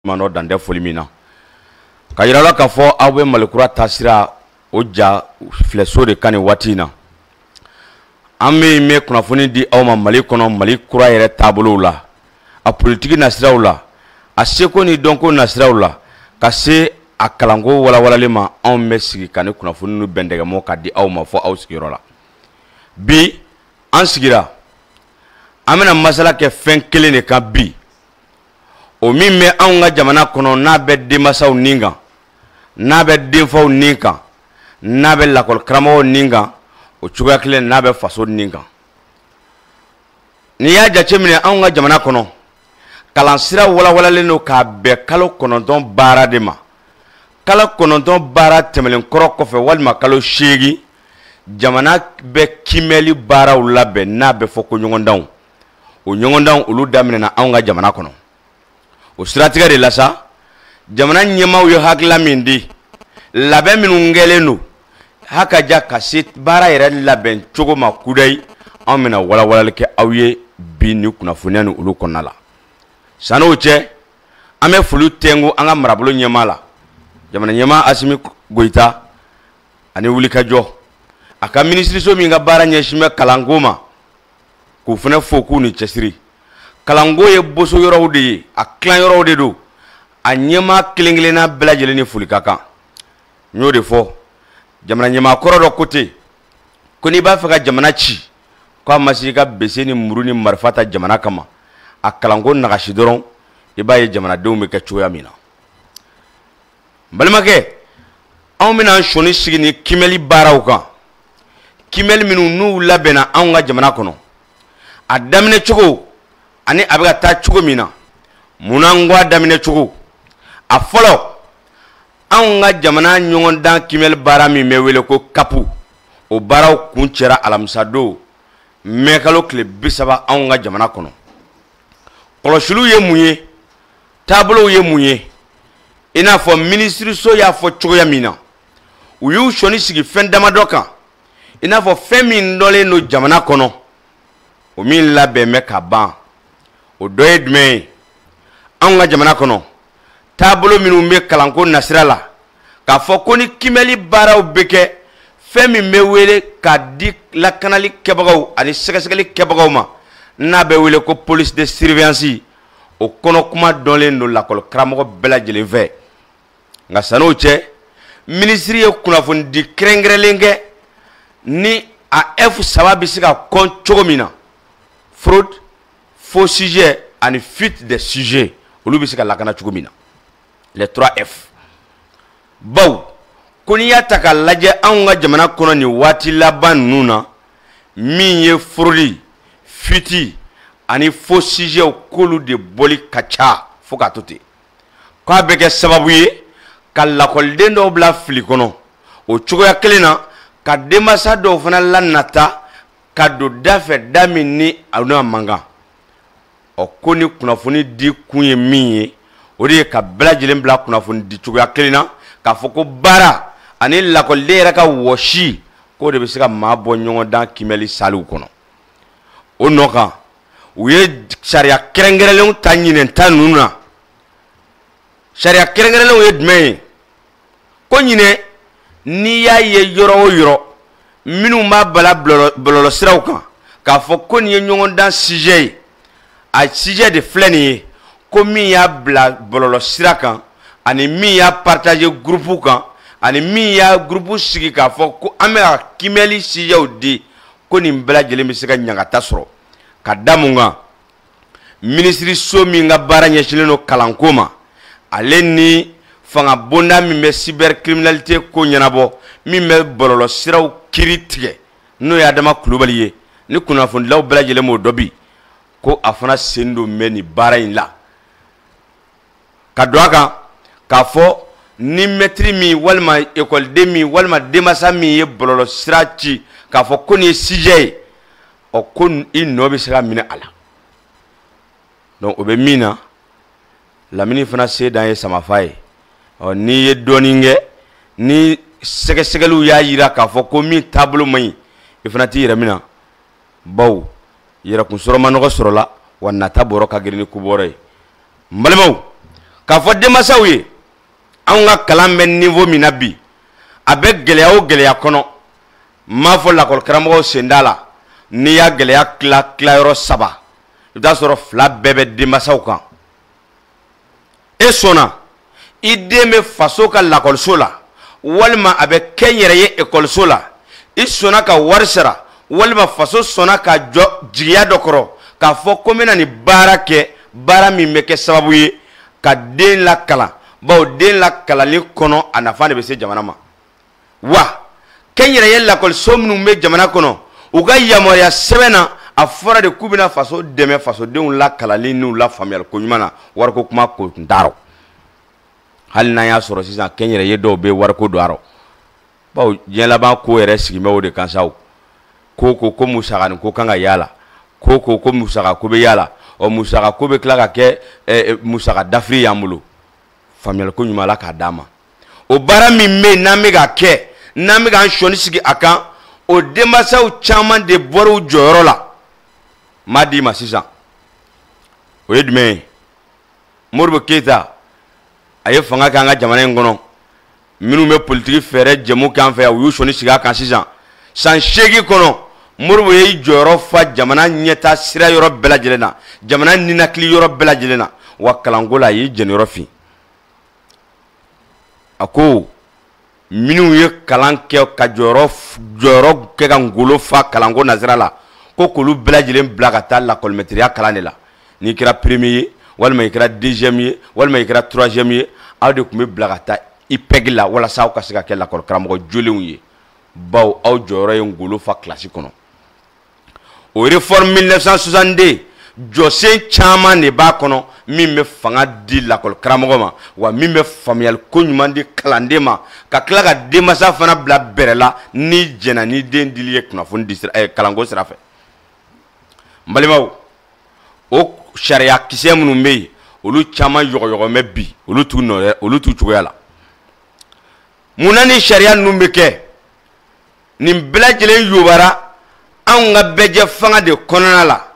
manɔ dan tɛ foli min na k'a yira la k'a fɔ aw bɛ malikura taasira o ja filɛso de kan nin waati in na an bɛ bɛ kunnafoni di aw ma mali kɔnɔ mali kura yɛrɛ taabolow la a politiki nasiraw la a seko ni dɔnko nasiraw la ka se a kalanko walawalalen ma anw bɛ sigi ka nin kunnafoni ninnu bɛndɛgɛmɔ ka di aw ma fɔ aw sigiyɔrɔ la bi an sigira an bɛna masala kɛ fɛn kelen de kan bi o min bɛ anw ka jamana kɔnɔ n'a bɛ denmansaw ni kan n'a bɛ denfaw ni kan n'a bɛ lakɔli karamɔgɔw ni kan o cogoya kelen n'a bɛ faso ni kan n'i y'a jateminɛ anw ka jamana kɔnɔ kalansira walawalalen don k'a bɛn kalo kɔnɔntɔn baara de ma kalo kɔnɔntɔn baara tɛmɛnen kɔrɔ kɔfɛ walima kalo seegin jamana bɛ kiimɛli baaraw labɛn n'a bɛ fɔ ko ɲɔgɔndanw o ɲɔgɔndanw olu daminɛna anw ka jamana kɔnɔ o siratigɛ de la sa jamana ɲɛmaaw ye hakilila min di labɛn minnu kɛlen don hakaja ka se baara yɛrɛ labɛn cogo ma kudayi an bɛna walawalali kɛ aw ye bi ni kunnafoniya ni olu kɔnɔna la san'o cɛ an bɛ foli tɛnku an ka marabolo ɲɛmaa la jamana ɲɛmaa asimi goyita a ni wulikajɔ a ka minisiriso min ka baara ɲɛsin bɛ kalanko ma k'u fana fo k'u ni cɛsiri kalanko ye boso yɔrɔw de ye a tilan yɔrɔw de don a ɲɛmaa kelen kelenna bɛɛ lajɛlen ni foli ka kan n y'o de fɔ jamana ɲɛmaa kɔrɔ dɔ ko ten ko n'i b'a fɛ ka jamana ci k'a ma se i ka bese ni muru ni marifa ta jamana kama a kalanko nagasi dɔrɔn i b'a ye jamanadenw bɛ kɛ cogoya min na balimakɛ anw bɛna an sɔnin sigi nin kiimɛli baaraw kan kiimɛli minnu n'u labɛnna anw ka jamana kɔnɔ a daminɛ cogo ani a bɛ ka taa cogo min na munna n ko a daminɛ cogo a fɔlɔ anw ka jamana ɲɔgɔndan kiimɛli baara min bɛ wele ko kapu o baaraw kun cɛra alamisadon mɛkalo tile bi saba anw ka jamana kɔnɔ kɔlɔsiliw ye mun ye taabolow ye mun ye i n'a fɔ minisiriso y'a fɔ cogoya min na u y'u sɔnin sigi fɛn damadɔ kan i n'a fɔ fɛn min dɔnnen don jamana kɔnɔ o min labɛn bɛ ka ban o dɔ ye jumɛn ye anw ka jamana kɔnɔ taabolo minnu bɛ kalanko nasira la k'a fɔ ko ni kiimɛli baaraw bɛ kɛ fɛn min bɛ wele ka di lakanali kɛbagaw ani sɛgɛsɛgɛli kɛbagaw ma n'a bɛ wele ko police de surveillance o kɔnɔ kuma dɔnlen don lakɔli karamɔgɔ bɛɛ lajɛlen fɛ nka san'o cɛ minisiri ye kunnafonidi kɛrɛnkɛrɛnlen kɛ nin F saba bɛ se ka kɔn cogo min na fraude faux sujet ani fuite des sujets olu bɛ se ka lakana cogo min na les 3F baw ko n'i y'a ta k'a lajɛ anw ka jamana kɔnɔ nin waati laban ninnu na min ye fraude fuite ani faux sujets k'olu de bɔli ka ca fo k'a to ten k'a bɛ kɛ sababu ye ka lakɔliden dɔw bila fili kɔnɔ o cogoya kelen na ka denmansa dɔw fana lanata ka don da fɛ da min ni a n'a man kan ɔ ko nin kunnafoni di kun ye min ye o de ye ka bɛɛ lajɛlen bila kunnafoni di cogoya kelen na k'a fɔ ko baara ani lakɔliden yɛrɛ ka wɔsi k'o de bɛ se ka maa bɔ ɲɔgɔndan kiimɛli saliw kɔnɔ o nɔ kan u ye sariya kɛrɛnkɛrɛnlenw ta ɲinɛn ta ninnu na sariya kɛrɛnkɛrɛnlenw ye jumɛn ye ko ɲinɛn n'i y'a ye yɔrɔ o yɔrɔ minnu b'a bila bɔlɔlɔsiraw kan k'a fɔ ko nin ye ɲɔgɔndan sijɛ ye a sijɛ de filɛ nin ye ko min y'a bila bɔlɔlɔsira kan ani min y'a partager gurupu kan ani min y'a gurupu sigi k'a fɔ ko an bɛ ka kiimɛli sijɛw di ko nin bɛɛ lajɛlen bɛ se ka ɲangata sɔrɔ ka da mun kan minisiriso min ka baara ɲɛsinnen don kalanko ma ale ni fanga bonda min bɛ cybercriminalité ko ɲɛnabɔ min bɛ bɔlɔlɔ siraw kiri tigɛ n'o ye adama kulubali ye ni kunnafonidilaw bɛɛ lajɛlen b'o dɔn bi ko a fana sendon bɛ nin baara in la ka don a kan k'a fɔ ni mɛtiri min walima ekɔliden min walima denmansa min ye bɔlɔlɔ sira ci k'a fɔ ko nin ye sijɛ ye ɔ ko i nɔ bɛ se ka minɛ a la donc o bɛ min na lamini fana se dan ye samafa ye ɔ n'i ye dɔɔnin kɛ ni sɛgɛsɛgɛliw y'a jira k'a fɔ ko min taabolo man ɲi i fana t'i yɛrɛ minɛ baw yɛrɛkun sɔrɔ man nɔgɔn sɔrɔ la wa nata bɔrɔ ka girin ni kubɔrɔ ye n balimaw k'a fɔ denmansaw ye anw ka kalan bɛ niveau min na bi a bɛ gɛlɛya o gɛlɛya kɔnɔ n m'a fɔ lakɔli karamɔgɔw sen t'a la n'i y'a gɛlɛya tila tilayɔrɔ saba i bɛ t'a sɔrɔ fila bɛɛ bɛ denmansaw kan e sɔnna i den bɛ faso ka lakɔliso la walima a bɛ kɛnyɛrɛye ekɔliso la i sɔnna ka wari sara walima faso sɔnna ka jɔ jigiya dɔ kɔrɔ k'a fɔ ko n bɛna nin baara kɛ baara min bɛ kɛ sababu ye ka den lakalan bawo den lakalali kɔnɔ a nafa de bɛ se jamana ma wa kɛnyɛrɛye lakɔliso minnu bɛ jamana kɔnɔ u ka yamaruya sɛbɛn na a fɔra de k'u bɛna faso dɛmɛ fasodenw lakalanni n'u lafaamuyali ko ɲuman na wariko kuma ko tun t'a rɔ hali n'an y'a sɔrɔ sisan kɛnyɛrɛye dɔw bɛ wariko don a rɔ bawo diɲɛ laban ko yɛrɛ sigin bɛ o de kan sa o ko ko ko musakanin ko kan ka y'a la ko ko ko musaka ko bɛ y'a la ɔ musaka ko bɛ tila ka kɛ musaka dafiri y'an bolo faamuyali ko ɲuman la k'a d'a ma o baara min bɛ yen n'an bɛ ka kɛ n'an bɛ k'an sɔnni sigi a kan o denmansaw caman de bɔra u jɔyɔrɔ la m'a d'i ma sisan o ye jumɛn ye modibo keyita a ye fanga kɛ an ka jamana in kɔnɔ minnu bɛ politiki fɛɛrɛ jɛmu kɛ an fɛ yan u y'u sɔnni sigi a kan sisan san seegin kɔnɔ modibo ye i jɔyɔrɔ fa jamana ɲɛta sira yɔrɔ bɛɛ lajɛlen na jamana ninakili yɔrɔ bɛɛ lajɛlen na wa kalanko la a y'i jɛniyɔrɔ fin a ko minnu ye kalan kɛ ka jɔ jɔyɔrɔ kɛ ka ngolo fa kalanko nasira la ko k'olu bɛɛ lajɛlen bila ka taa lakɔlimɛtiriya kalan de la n'i kɛra premier ye walima i kɛra deuxième ye walima i kɛra troisième ye aw de tun bɛ bila ka taa IPEG la walasa aw ka se ka kɛ lakɔlikaramɔgɔ jolenw ye bawo aw jɔyɔrɔ ye ngolo fa kilasi kɔnɔ o réforme 1962 jɔsen caman de b'a kɔnɔ min bɛ fanga di lakɔli karamɔgɔ ma wa min bɛ faamuyali ko ɲuman di kalanden ma ka tila ka denmansa fana bila bɛrɛ la n'i jɛnna ni den dili ye kunnafoni di sira eh, kalanko sira fɛ n balimaw o sariya kisɛ minnu bɛ yen olu caman yɔgɔyɔgɔn bɛ bi olu t'u nɔ olu t'u cogoya la mun na ni sariya ninnu bɛ kɛ nin bɛɛ lajɛlen yobara anw ka bɛɛjɛ fanga de kɔnɔna la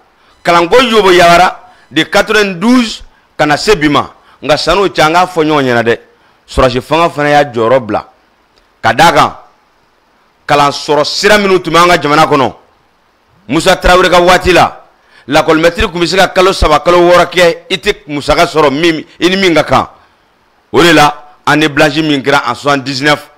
kalanko yoboyabara de 92 ka na se bi ma nka san'o cɛ an k'a fɔ ɲɔgɔn ɲɛna dɛ sɔrɔsi fanga fana y'a jɔyɔrɔ bila ka d'a kan kalan sɔrɔ sira minnu tun bɛ an ka jamana kɔnɔ musa tarawele ka waati la lakɔlimɛtiri tun bɛ se ka kalo saba kalo wɔɔrɔ kɛ i tɛ musaka sɔrɔ min i ni min ka kan o de la année blanche min kɛra en 79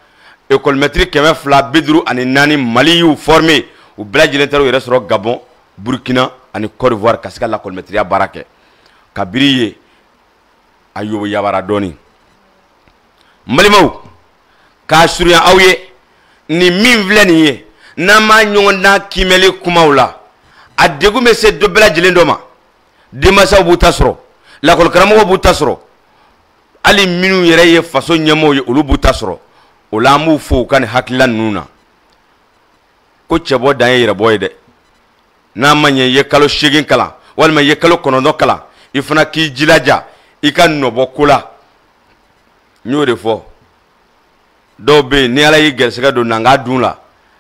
ekɔlimɛtiri kɛmɛ fila bi duuru ani naani mali y'u formé u bɛɛ lajɛlen taara u yɛrɛ sɔrɔ gabon burkina ani côte d'ivoire ka se ka lakɔlimɛtiriya baara kɛ kabiri yen a yoboyabara dɔɔni n balimaw k'a surunya aw ye nin min filɛ nin ye n'an b'a ɲɔgɔn dan kiimɛli kumaw la a degun bɛ se dɔ bɛɛ lajɛlen dɔ ma denmansaw b'u ta sɔrɔ lakɔlikaramɔgɔw b'u ta sɔrɔ hali minnu yɛrɛ ye faso ɲɛmɔgɔw ye olu b'u ta sɔrɔ o la an b'u fo u ka nin hakilila ninnu na ko cɛbɔ dan ye yɛrɛbɔ ye dɛ n'a ma ɲɛ i ye kalo seegin kalan walima i ye kalo kɔnɔntɔn kalan i fana k'i jilaja i ka nɔbɔ ko la n y'o de fɔ dɔw bɛ yen ni ala y'i gɛrɛsɛgɛ don nanga dun la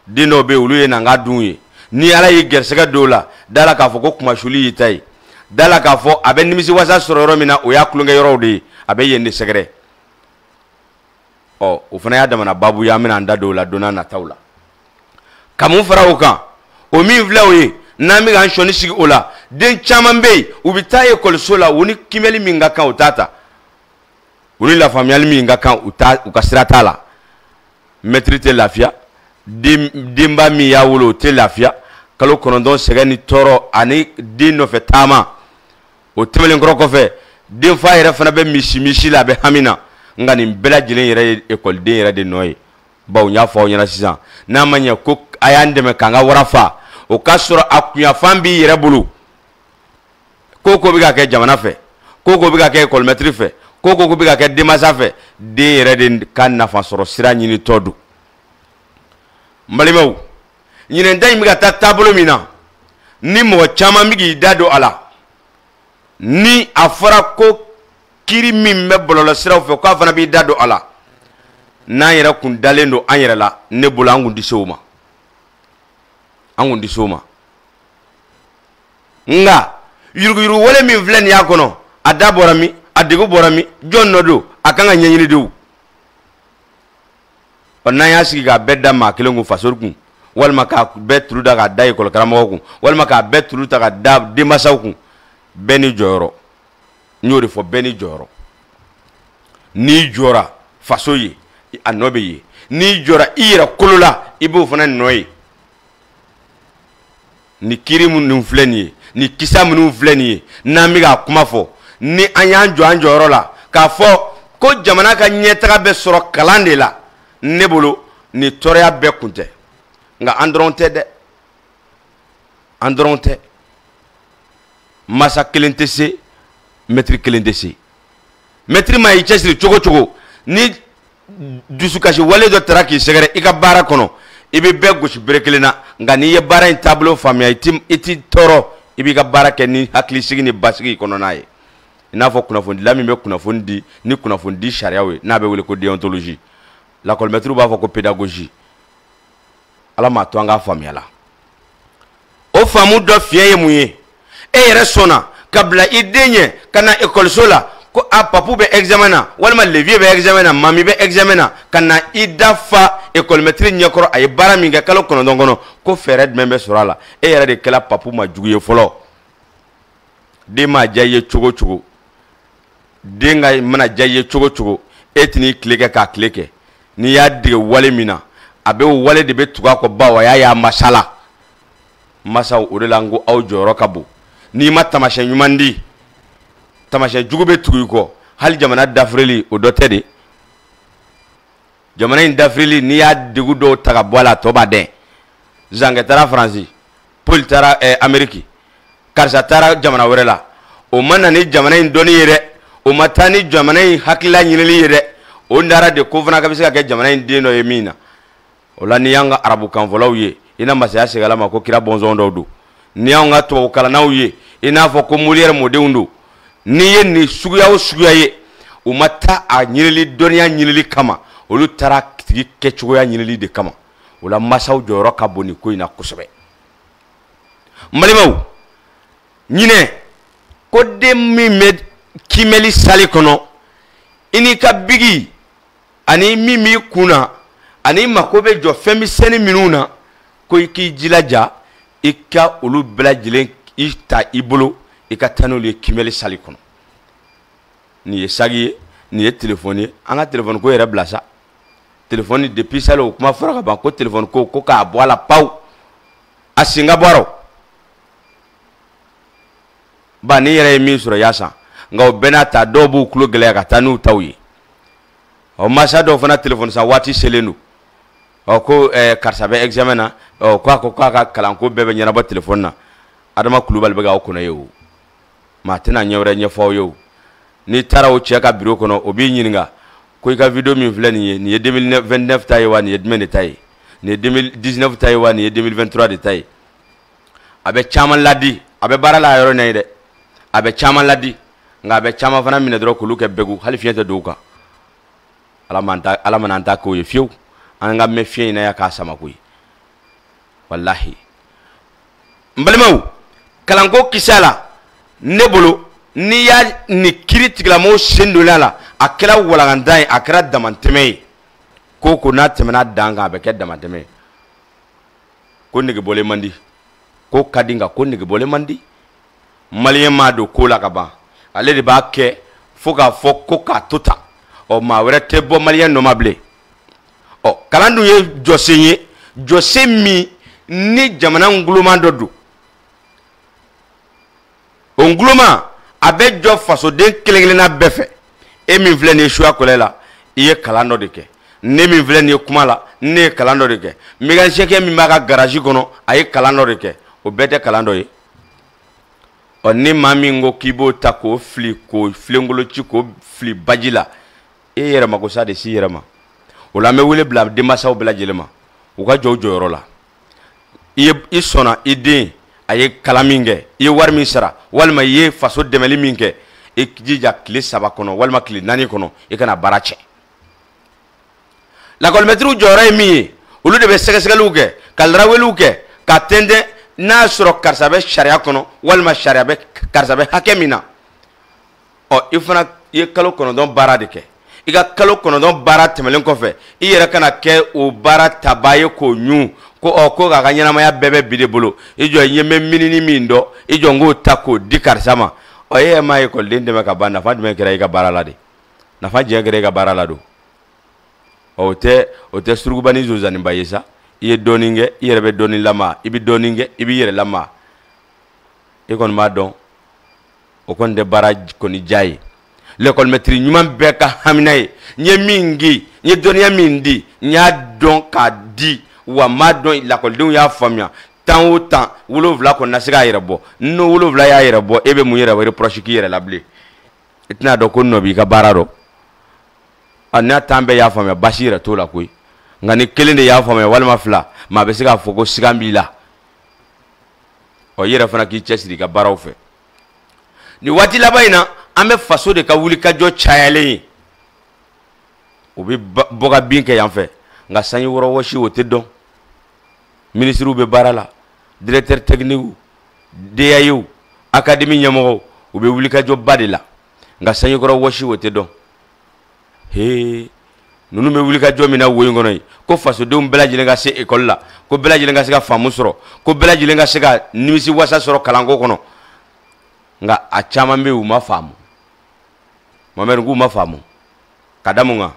den dɔw bɛ yen olu ye nanga dun ye ni ala y'i gɛrɛsɛgɛ don o la da la k'a fɔ ko kunmasuli y'i ta ye da la k'a fɔ a bɛ nimisiwasa sɔrɔ yɔrɔ min na o y'a tulonkɛ yɔrɔw de ye a bɛ yen de sɛgɛrɛ ɔ o fana y'a damana babu ye an bɛna an da don o la don nataw la ka mun fara o kan o min filɛ o ye n'an bɛ k'an sɔnni sigi o la den caman bɛ yen u bɛ taa ekɔliso la u ni kimɛli min ka kan u t'a ta u ni lafaamuyali min ka kan u ka sira t'a la mɛtiri tɛ lafiya denba min y'a wolo o tɛ lafiya kalo kɔnɔntɔn sɛgɛn ni tɔɔrɔ ani den nɔfɛ taama o tɛmɛnen kɔrɔ kɔfɛ denfa yɛrɛ fana bɛ misimisi la a bɛ hami na nka nin bɛɛ lajɛlen yɛrɛ ye ekɔliden yɛrɛ de nɔ ye bawo n y'a fɔ aw ɲɛ na sisan n'a ma ɲɛ ko a y'an dɛmɛ k'an ka wara faa o k'a sɔrɔ a kunyanfan b'i yɛrɛ bolo ko ko bɛ ka kɛ jamana fɛ ko ko bɛ ka kɛ ekɔlimɛtiri fɛ ko ko bɛ ka kɛ denmansa fɛ den yɛrɛ de ka nafa sɔrɔ sira ɲinitɔ don n balimaw ɲinɛn ta in bɛ ka taa taabolo min na ni mɔgɔ caman bɛ k'i da don a la ni a fɔra ko kiri min bɛ bɔlɔlɔsiraw fɛ k'a fana b'i da don a la n'an yɛrɛ kun dalen don an yɛrɛ la ne bolo an kun tɛ se o ma an kun tɛ se o ma nka yuruguyurugu wale min filɛ nin y'a kɔnɔ a da bɔra min a degu bɔra min jɔn nɔ don a kan ka ɲɛɲini de o ɔ n'an y'a sigi k'a bɛɛ da maa kelen kun fasori kun walima k'a bɛɛ tulu ta k'a da ekɔli karamɔgɔ kun walima k'a bɛɛ tulu ta k'a da denmasaw kun bɛɛ ni jɔyɔrɔ n y'o de fɔ bɛɛ ni jɔyɔrɔ n'i jɔra faso ye a nɔ bɛ ye n'i jɔra i yɛrɛ kolo la i b'o fana nɔ ye ni kiri minnu filɛ nin ye ni kisa minnu filɛ nin ye n'an bɛ k'a kuma fɔ ni an y'an jɔ an jɔyɔrɔ la k'a fɔ ko jamana ka ɲɛtaga bɛ sɔrɔ kalan de la ne bolo nin tɔɔrɔya bɛɛ kun tɛ nka an dɔrɔn tɛ dɛ an dɔrɔn tɛ masa kelen tɛ se mɛtiri kelen tɛ se mɛtiri ma i cɛsiri cogo cogo ni dusukasi wale dɔ taara k'i sɛgɛrɛ i ka baara kɔnɔ i bɛ bɛɛ gosi bere kelen na nka n'i ye baara in taabolo faamuya i tɛ i tɛ tɔɔrɔ i b'i ka baara kɛ ni hakilisigi ni basigi kɔnɔna ye i n'a fɔ kunnafonidila min bɛ kunnafoni di ni kunnafonidi sariyaw ye n'a bɛ wele ko déontologie lakɔlimɛtiriw b'a fɔ ko pédagogie ala m'a to an k'a faamuya la o faamu dɔ fiɲɛ ye mun ye e yɛrɛ sɔnna ka bila i den ɲɛ ka na ekɔliso la ko a papu bɛ examen na walima le vieux bɛ examen na mami bɛ examen na ka na i da fa ekɔlimɛtiri ɲɛkɔrɔ a ye baara min kɛ kalo kɔnɔntɔn kɔnɔ ko fɛɛrɛ jumɛn bɛ sɔrɔ a la e yɛrɛ de kɛra papu maa jugu ye fɔlɔ den ma diya i ye cogo cogo den ka mana diya i ye cogo cogo e tɛn'i tile kɛ k'a tile kɛ n'i y'a dege wale min na a bɛ o wale de bɛ tugu a kɔ bawo a y'a ye a masa la masaw o de la n ko aw jɔyɔrɔ ka bon n'i ma tamasiyɛn ɲuman di tamasiyɛn jugu bɛ tugu i kɔ hali jamana dafirili o dɔ tɛ dɛ jamana in dafirili n'i y'a degu dɔw ta ka bɔ a la a tɔ b'a den zankɛ taara faransi paul taara eh, ameriki karisa taara jamana wɛrɛ la o ma na ni jamana in dɔnni ye dɛ o ma taa ni jamana in hakilila ɲinili ye dɛ o nara de ko fana k'a bɛ se ka kɛ jamana in den dɔ ye min na o la n'i y'an ka arabukanfɔlaw ye i na masaya segala ma ko kira bɔnsɔn dɔw don n'i y'an ka tubabu kalannaw ye i n'a fɔ ko moliyɛri mɔdenw don n'i ye nin suguya o suguya ye u ma taa a ɲinili dɔnniya ɲinili kama olu taara tigi kɛcogoya ɲinili de kama o la masaw jɔyɔrɔ ka bon nin ko in na kosɛbɛ n balimaw ɲinɛ ko den min bɛ kiimɛli sali kɔnɔ i n'i ka biki ani min b'i kun na ani i mako bɛ jɔ fɛn misɛnni minnu na ko i k'i jilaja i ka olu bɛɛ lajɛlen i ta i bolo i ka taa n'olu ye kiimɛli sali kɔnɔ nin ye saki ye nin ye telefɔni ye an ka telefɔni ko yɛrɛ bila sa telefɔni depuis salon o kuma fɔra ka ban ko telefɔni ko ko k'a bɔ a la pewu a sen ka bɔ a rɔ ba n'i yɛrɛ ye min sɔrɔ i y'a san nka o bɛɛ n'a ta dɔw b'u tulo gɛlɛya ka taa n'u taw ye ɔ masa dɔw fana telefɔni san waati selen don ɔ ko ɛɛ eh, karisa bɛ examen na ɔ ko a ko k'a ka kalanko bɛɛ bɛ ɲɛnabɔ telefɔni na adama kulubali bɛ k'aw kɔnɔ yen o maa tɛna ɲɛ wɛrɛ ɲɛfɔ aw ye o n'i taara o cɛ ka biro kɔnɔ o b'i ɲininka ko i ka video min filɛ nin ye nin ye 2029 ta ye wa nin ye jumɛn de ta ye nin ye 2019 ta ye wa nin ye 2023 de ta ye a bɛ caman ladi a bɛ baara la a yɔrɔ na yen dɛ a bɛ caman ladi nka a bɛ caman fana minɛ dɔrɔn k'olu kɛ bɛgu hali fiɲɛ tɛ don u kan ala mana an ta k'o ye fiyewu an ka mɛn fiɲɛ in na yan k'a sama koyi walahi n balimaw kalanko kisɛ la ne bolo n'i y'a ni kiritigɛla mɔgɔw sen donna a la a kɛra walakantan ye a kɛra damantɛmɛ ye ko ko n'a tɛmɛna dan kan a bɛ kɛ damantɛmɛ ye ko negebɔlen man di ko ka di nka ko negebɔlen man di maliyɛn ma don ko la ka ban ale de b'a kɛ fo k'a fɔ ko k'a to tan ɔ maa wɛrɛ tɛ bɔ maliyɛn nɔ ma bilen ɔ kalan dun ye jɔsen ye jɔsen min ni jamana nguloma dɔ don o nguloma a bɛ jɔ fasoden kelen kelenna bɛɛ fɛ e min filɛ nin ye suya kɔlɛ la i ye kalan dɔ de kɛ ne min filɛ nin ye kuma la ne ye kalan dɔ de kɛ mécanicien min b'a ka garage kɔnɔ a ye kalan dɔ de kɛ o bɛɛ tɛ kalan dɔ ye ɔ ni maa min ko k'i b'o ta k'o fili k'o filenkolo ci k'o fili baji la e yɛrɛ mako sa de s'i yɛrɛ ma o la an bɛ wele bila denmansaw bɛɛ lajɛlen ma u ka jɔ u jɔyɔrɔ la i ye i sɔnna i den a ye kalan min kɛ i ye wari min sara walima i ye faso dɛmɛli min kɛ i jija tile saba kɔnɔ walima tile naani kɔnɔ i kana baara tiɲɛ lakɔlimɛtiriw jɔyɔrɔ ye min ye olu de bɛ sɛgɛsɛgɛliw kɛ ka laraweliw kɛ ka tɛntɛn n'a y'a sɔrɔ karisa bɛ sariya kɔnɔ walima sariya bɛ karisa bɛ hakɛ min na ɔ i fana i ye kalo kɔnɔntɔn baara de kɛ i ka kalo kɔnɔntɔn baara tɛmɛlen kɔfɛ i yɛrɛ kana kɛ o baara tabaa ye k'o ɲun ko ɔ ko k'a ka ɲɛnamaya bɛɛ bɛ b'i de bolo i jɔ i ye n bɛ minini min dɔn i jɔ n k'o ta k'o di karisa ma ɔ e yɛrɛ ma ekɔliden dɛmɛ ka ban nafa jumɛn kɛra i ka baara la de nafa jumɛn kɛra i ka baara la don ɔ o tɛ o tɛ surukuba ni zonzaniba ye sa i ye dɔɔnin kɛ i yɛrɛ bɛ dɔɔnin lama i bɛ dɔɔnin kɛ i b'i yɛrɛ lama e kɔni b'a dɔn o kɔni tɛ baara kɔni diya ye lɛkɔlimɛtiri ɲuman bɛɛ ka hamina ye n ye min di n ye dɔnniya min di n y'a dɔn k'a di wa n m'a dɔn lakɔlidenw y'a faamuya tan o tan wolonwula kɔni na se k'a yɛrɛ bɔ n'o wolonwula y'a yɛrɛ bɔ e bɛ mun yɛrɛ reproche k'i yɛrɛ la bilen i tɛna dɔn ko nɔ b'i ka baara dɔn a n'a tan bɛɛ y'a faamuya basi yɛrɛ t'o la koyi nka ni kelen de y'a faamuya walima fila maa bɛ se k'a fɔ ko sigan b'i la ɔ i yɛrɛ fana k'i cɛsiri i ka baaraw fɛ nin waati laban in na an bɛ faso de ka wulikajɔ cayalen ye u bɛ bɔ ka bin kɛ yan fɛ nka sanjikɔrɔ wɔsi o tɛ dɔn minisiriw bɛ baara la directeur technique DAEw académie ɲɛmɔgɔw u bɛ wulikajɔba de la nka sanjikɔrɔ wɔsi o tɛ dɔn he ninnu bɛ wulikajɔ min na wo in kɔnɔ ye ko fasodenw bɛɛ lajɛlen ka se ekɔli la ko bɛɛ lajɛlen ka se ka faamu sɔrɔ ko bɛɛ lajɛlen ka se ka nimisi wasa sɔrɔ kalanko kɔnɔ nka a caman bɛ yen u ma faamu mamɛri k'u ma faamu ka da mun kan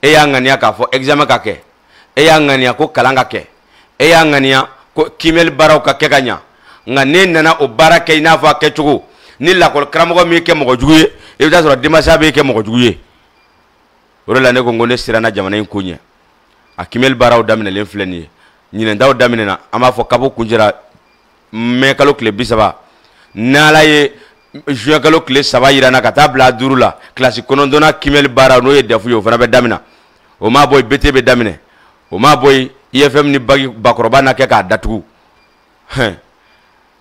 e y'a ŋaniya k'a fɔ examen ka kɛ e y'a ŋaniya ko kalan ka kɛ e y'a ŋaniya ko kiimɛli baaraw ka kɛ ka ɲa nka n'e nana o baara kɛ i n'a fɔ a kɛcogo ni lakɔli karamɔgɔ m'i kɛ mɔgɔ jugu ye i bɛ t'a sɔrɔ denmasa b'i kɛ mɔgɔ jugu ye o de la ne ko n ko ne siranna jamana in ko ɲɛ a kiimɛli baaraw daminɛlen filɛ nin ye ɲinɛntaw daminɛna an b'a fɔ kabo kun jɛra mɛ kalo tile bi saba n'ala ye juin kalo tile saba yira an na ka taa bila duuru la kilasi kɔnɔntɔnnan kiimɛli baara n'o ye dɛfu ye o fana bɛ damina o m'a bɔ yen bete bɛ daminɛ o m'a bɔ yen ifm ni bagi bakɔrɔba na kɛ k'a datugu hɛn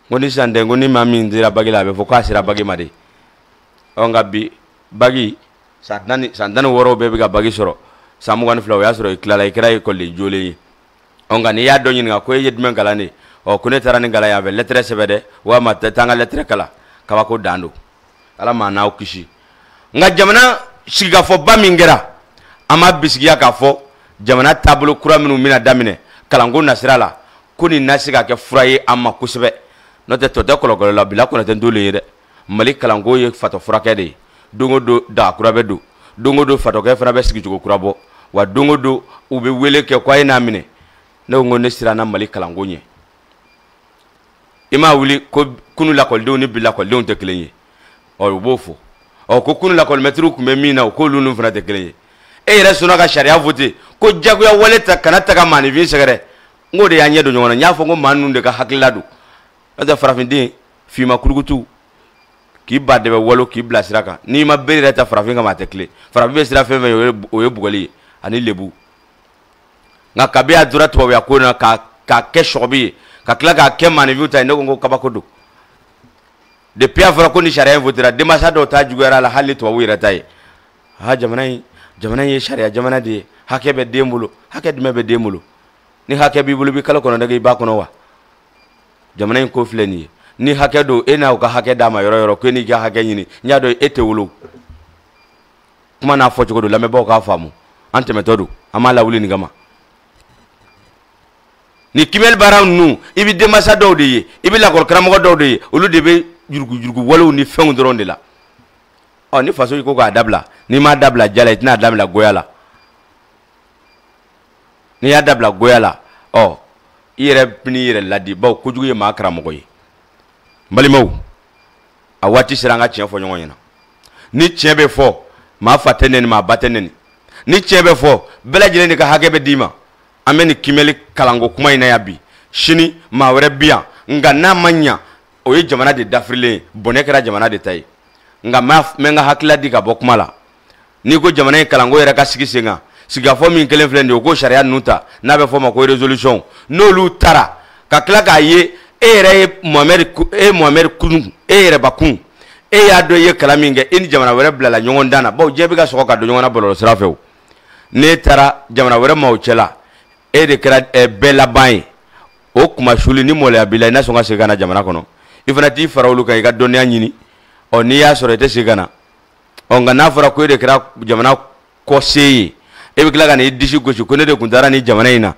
ko ni sisan tɛ ko ni maa min dira bagi la a bɛ fɔ k'a sera bagi ma de ɔ nka bi bagi san tan ni wɔɔrɔw bɛɛ bɛ ka bagi sɔrɔ san mugan ni fila o y'a sɔrɔ i tilala i kɛra ekɔliden jolen ye ɔ nka n'i y'a dɔ ɲininka ko e ye jumɛn kalan de ɔ ko ne taara nin kalan yan fɛ lɛtɛrɛ sɛbɛn dɛ walima tɛ taa n ka lɛtɛrɛ kalan kabako dan don ala maa n'aw kisi nka jamana sigikafɔba min kɛra an b'a bisigiya k'a fɔ jamana taabolo kura minnu bɛna daminɛ kalanko nasira la ko nin na se ka kɛ fura ye an ma kosɛbɛ n'o tɛ tɔ tɛ kɔlɔkɔlɔ la bila kɔnɔ tɛ n t'o le ye dɛ mali kalanko ye fatɔ furakɛ de ye don o don daga kura bɛ don don o don fatɔkɛ fana bɛ sigicogo kura bɔ wa don o don u bɛ wele kɛ ko a ye n'a minɛ ne ko ne siranna mali kalanko ɲɛ i m'a wuli ko kunu lakɔlidenw ni bi lakɔlidenw tɛ kelen ye ɔ u b'o fɔ ɔ ko kunu lakɔlimɛtiriw tun bɛ min na o k'olu n'u fana tɛ kelen ye e yɛrɛ sɔnna ka sariya vote ko jagoya wale ta kana ta ka maanifin sɛgɛrɛ n k'o de y'an ɲɛ don ɲɔgɔn na n y'a fɔ ko maa ninnu de ka hakilila don n'o tɛ farafinden finman kurukutu k'i ba dɛbɛ walon k'i bila sira kan n'i ma bere yɛrɛ ta farafin kama a tɛ tilen farafin bɛ siran fɛn fɛn ɲɛ o ye bugɔli ye ani lebu nka kabi a dora tubabuya ko na k'a k'a kɛ sɔgɔbi ye ka tila k'a kɛ maanifinw ta ye ne ko n ko kabako don depuis a fɔra ko ni sariya in votera denmansa dɔw ta juguyara la hali ni tubabu yɛrɛ ta ye ha jamana in jamana in ye sariya jamana de ye hakɛ bɛ den bolo hakɛ jumɛn bɛ den bolo ni hakɛ b'i bolo i bɛ kalo kɔnɔntɔn kɛ i ba kɔnɔ wa jamana in ko filɛ nin ye ni hakɛ don e n'aw ka hakɛ d'a ma yɔrɔ yɔrɔ ko e n'i ka hakɛ ɲini n y'a dɔn e tɛ wolo kuma n'a fɔcogo don lamɛnbaaw k'a faamu an tɛmɛtɔ don an m'a lawuli nin kama ni kiimɛli baara ninnu i bɛ denmansa dɔw de ye i bɛ lakɔli karamɔgɔ dɔw de ye olu de bɛ yuruguyurugu walew ni fɛnw dɔrɔn de la ɔ ni faso ko k'a dabila n'i m'a dabila diya la i tɛna dabila goya la n'i y'a dabila goya la ɔ i yɛrɛ bɛn'i yɛrɛ laadi bawo kojugu ye maa karamɔgɔ ye balimaw a waati sera an ka tiɲɛ fɔ ɲɔgɔn ɲɛna ni tiɲɛ bɛ fɔ maa fa tɛ nɛni maa ba tɛ nɛni ni tiɲɛ bɛ fɔ bɛɛ lajɛlen de ka hakɛ bɛ d'i ma an bɛ nin kiimɛli kalanko kuma in na yan bi sini maa wɛrɛ bi yan nka n'a ma ɲa o ye jamana de dafirilen ye bɔnɛ kɛra jamana de ta ye nka n bɛ n ka hakilila di ka bɔ kuma la n'i ko jamana in kalanko yɛrɛ ka sigi sen kan sigikafɔ min kɛlen filɛ nin ye o ko sariya ninnu ta n'a bɛ fɔ ma ko resolution n'olu taara ka tila k'a ye e yɛrɛ ye mohamɛdi e ye mohamɛdi kun e yɛrɛbakun e y'a dɔn i ye kalan min kɛ e ni jamana wɛrɛ bilala ɲɔgɔndan na bawo diɲɛ bɛ ka sɔgɔ ka don ɲɔgɔn na bɔlɔlɔ sira fɛ o n'e taara jamana wɛrɛ maaw cɛla e de kɛra eh, bɛɛ laban ye o kunmasuli ni maloya b'i la i na sɔn ka segin ka na jamana kɔnɔ i fana t'i fara olu kan i ka dɔnniya ɲini ɔ n'i y'a sɔrɔ i tɛ segin ka na ɔ nka n'a fɔra ko e de kɛra jamana kɔse ye e bɛ tila ka n'i disi gosi ko ne de tun taara nin jamana in na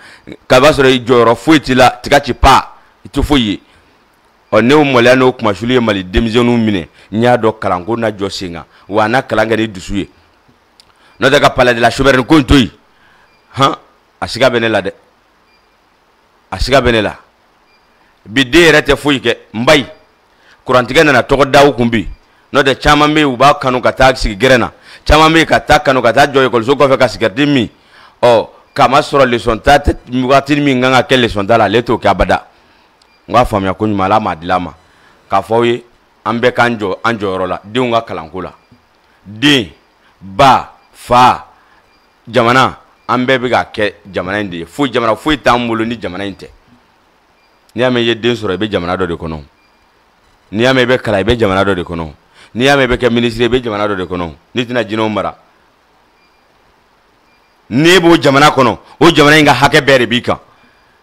k'a b'a sɔrɔ jɔyɔrɔ foyi t'i la tiga ci pa i tɛ foyi ye ɔ n'o maloya n'o kunmasuli ye mali denmisɛnninw minɛ n y'a dɔn kalanko na jɔ sen kan wa a na kalan kɛ ni dusu ye n'o tɛ ka palais de la souveraine ko in to yen han a siga bɛ ne la dɛ a siga bɛ ne la bi den yɛrɛ tɛ foyi kɛ n ba ye kurantigɛ nana tɔgɔ da u kun bi n'o tɛ caman bɛ yen u b'a kanu ka taa sigi gɛrɛn na caman bɛ yen ka taa kanu ka taa jɔ ekɔliso kɔfɛ ka sigɛriti min ɔ k'a ma sɔrɔ lesɔn ta waati min kan ka kɛ lesɔn ta la ale t'o kɛ abada n k'a faamuya ko ɲuman ala m'a di a ma k'a fɔ aw ye an bɛɛ k'an jɔ an jɔyɔrɔ la denw ka kalanko la den ba fa jamana an bɛɛ bɛ ka kɛ jamana in de ye foyi jamana foyi t'an bolo ni jamana in tɛ n'i y'a mɛn i ye den sɔrɔ i bɛ jamana dɔ de kɔnɔ n'i y'a mɛn i bɛ kalan i bɛ jamana dɔ de kɔnɔ n'i y'a mɛn i bɛ kɛ minisiri i bɛ jamana dɔ de kɔnɔ n'i tɛna jinɛw mara n'e b'o jamana kɔnɔ o jamana in ka hakɛ bɛɛ de b'i kan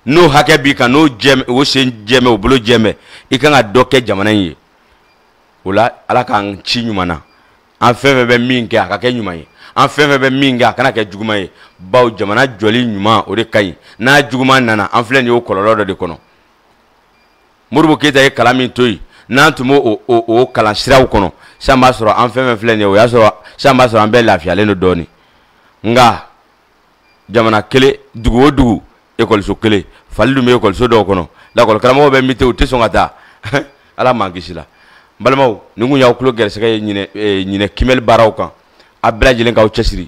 n'o hakɛ b'i kan n'o jɛmɛ o sen jɛmɛ o bolo jɛmɛ i kan ka dɔ kɛ jamana in ye o la ala k'an ci ɲuman na an fɛn fɛn bɛ min kɛ a ka kɛ ɲuman ye an fɛn fɛn bɛ min kɛ a kana kɛ juguman ye baw jamana jɔli ɲuman o de ka ɲi n'a juguman nana an filɛ nin ye o kɔlɔlɔ dɔ de kɔnɔ modibo keyita ye kalan min to yen n'an tun b'o o kalan siraw kɔnɔ sisan b'a sɔrɔ an fɛn fɛn filɛ nin ye o y'a sɔrɔ sisan b'a sɔrɔ an bɛɛ lafiyalen don dɔɔnin nka jamana kelen dugu o dugu ekɔliso kelen fali dun bɛ ekɔliso dɔw kɔnɔ lakɔli karamɔgɔw bɛ muté u tɛ sɔn ka taa ala m'an kisi la n balimaw nin kun y'aw tulo gɛrɛsɛgɛ ye ɲinan eh, ɲinan kiimɛli baaraw kan a bɛɛ lajɛlen k'aw cɛsiri